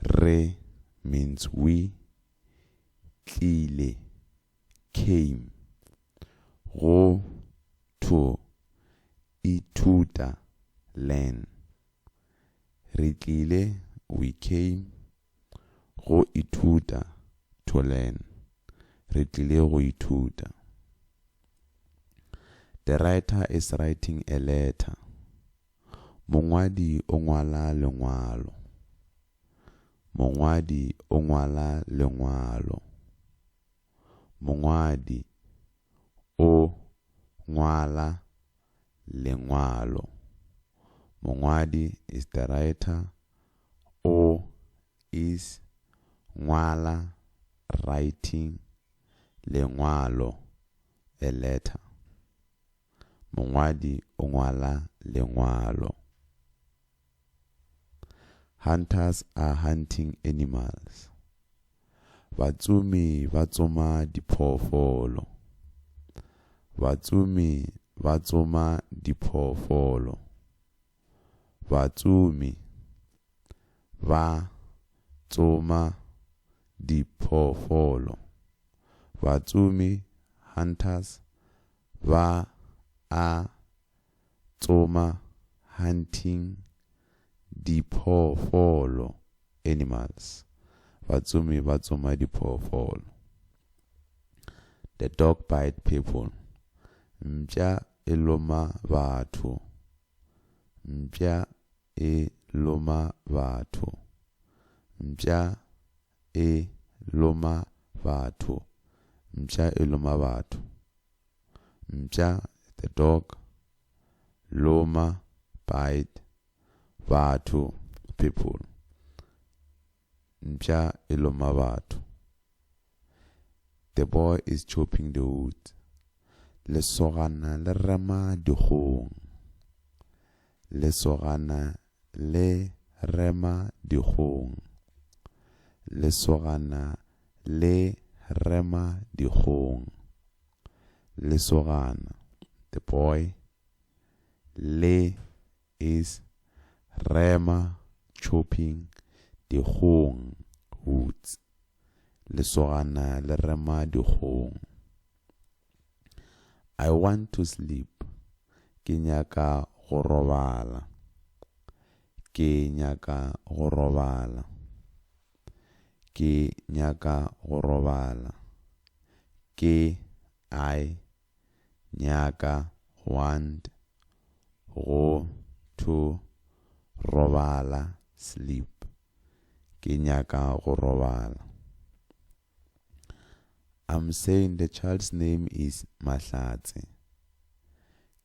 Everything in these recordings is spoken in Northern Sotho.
Re means we, tlile, came. Go, to, ithuta, learn. Re tlile, we came, go ithuta, to learn. Re tlile go ithuta. The writer is writing a letter. Mongwadi o ngwala lengwalo. Mongwadi o ngwala lengwalo. Mongwadi o ngwala lengwalo. Mongwadi is the writer. O is ngwala, writing, lengwalo, a letter. mongwadi o ngwala lengwalo. Hunters are hunting animals. Batsomi ba tsoma diphoofolo. Batsomi ba tsoma diphoofolo. batsomi ba tsoma diphoofolo, batsomi, hunters, ba a tsoma, hunting, diphoofolo, animals, batsomi ba tsoma diphoofolo. The dog bite people, mpša e loma batho, mpša e loma batho, mpša e loma batho, mpša e loma batho, mpša, the dog, loma, bite, batho, people. Mpša e loma batho. The boy is chopping the wood. Lesogana le rema dikgong. Lesogana le rema dikgong. Lesogana le rema dikgong. Lesogana, the boy, le is, rema, chopping, dikgong, hoots, Lesogana le rema dikgong. I want to sleep, ke nyaka go robala, Ke nyaka go robala, Ke nyaka go robala, Ke, I, nyaka, want, go, to, robala, sleep, ke nyaka go robala. I'm saying the child's name is Mahlatse.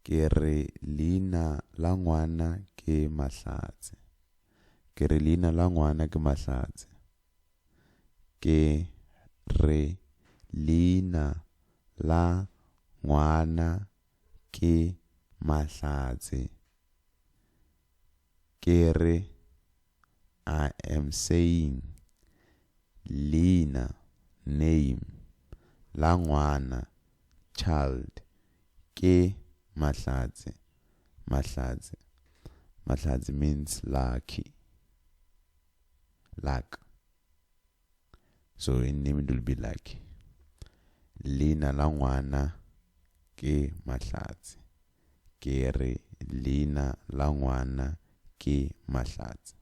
Ke re leina la ngwana ke Mahlatse. Ke re leina la ngwana ke Mahlatse. ke re leina la ngwana ke Mahlatse, ke re I am saying leina, name, la ngwana, child, ke Mahlatse, Mahlatse, Mahlatse means lucky. Luck. So in name it will be Lucky. Leina la ngwana ke Mahlatse. Ke re leina la ngwana ke Mahlatse.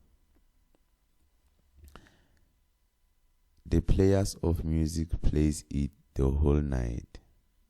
The players of music plays it the whole night.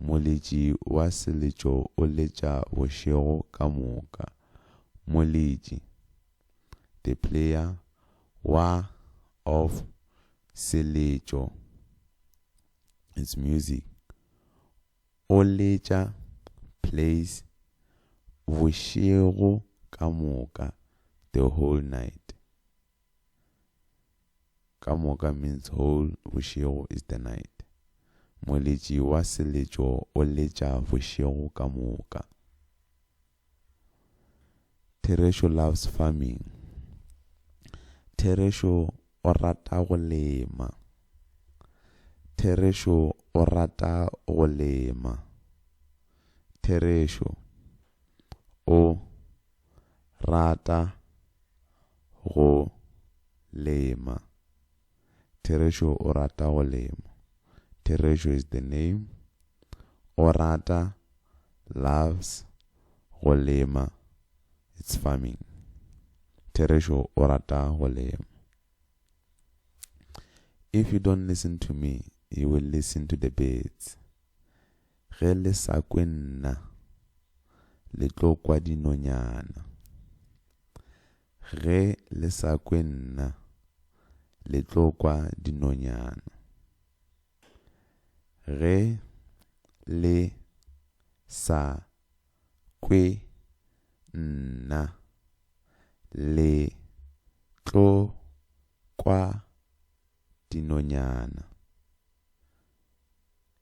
Moletši wa seletšo o letša bošego ka moka. Moletši, the player, wa, of, seletšo, it's music, o letša, plays, bošego ka moka, the whole night. ka moka means whole bošego is the night moletši wa seletšo o letša bošego ka moka therešo loves farming therešo o rata go lema therešo o rata go lema therešo o rata go lema. Therešo o rata go lema. Therešo is the name. O rata, loves, go lema, it's farming. Therešo o rata go lema. If you don't listen to me, you will listen to the birds. Ge le sa kwe nna, le tlo kwa dinonyana. Ge le sa kwe nna, le tlo kwa dinonyana. Ge le sa kwe nna, le tlo kwa dinonyana.